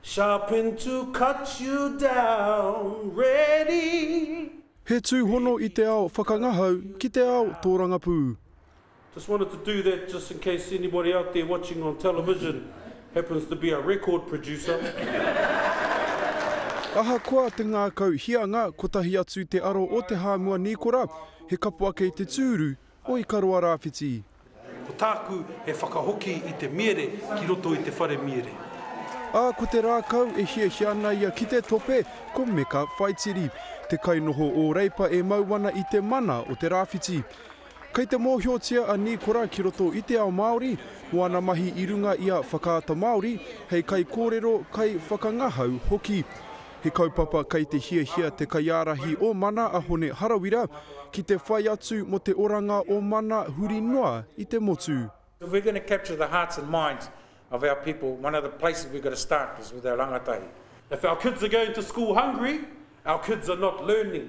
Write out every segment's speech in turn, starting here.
Sharpen to cut you down, ready. He tūhono i te ao whakangahau ki te ao tōrangapū. Just wanted to do that just in case anybody out there watching on television happens to be a record producer. Ahakoa te ngākau hīanga, kotahi atu te aro o te hāmua nīkora, he kapo ake te tūru Ko Ikaroa Rawhiti. Ko tāku he whakahoki i te miere ki roto i te whare miere. Ā, ko te rākau e hiahia ana ia ki te tope, ko Meka Whaitiri, te kainoho o Reipa e mau ana i te mana o te rāwhiti. Kei te mōhiotia a Nīkora ki roto i te ao Māori, mō ana mahi i runga i a Whakaata Māori, hei kaikōrero, kaiwhakangahau hoki. He kaupapa kei te hiahia te kaiārahi o Mana a Hone Harawira ki te whai atu mō te oranga o Mana huri noa i te motu. If we're going to capture the hearts and minds of our people, one of the places we've got to start is with our rangatahi. If our kids are going to school hungry, our kids are not learning.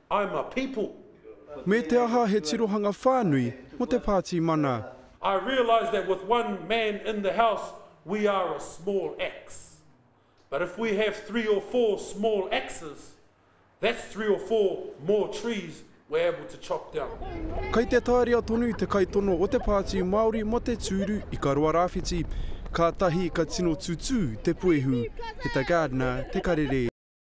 I'm a people. Me te aha he tirohanga whānui mo te Pāti Mana. I realise that with one man in the house we are a small ax but if we have three or four small axes that's three or four more trees we're able to chop down. Kai te tāria tonu te kaitono o te Pāti Māori mo te tūru i Karoa Rāwhiti, kātahi ka tino tutū te puehu, he ta gardener te karere.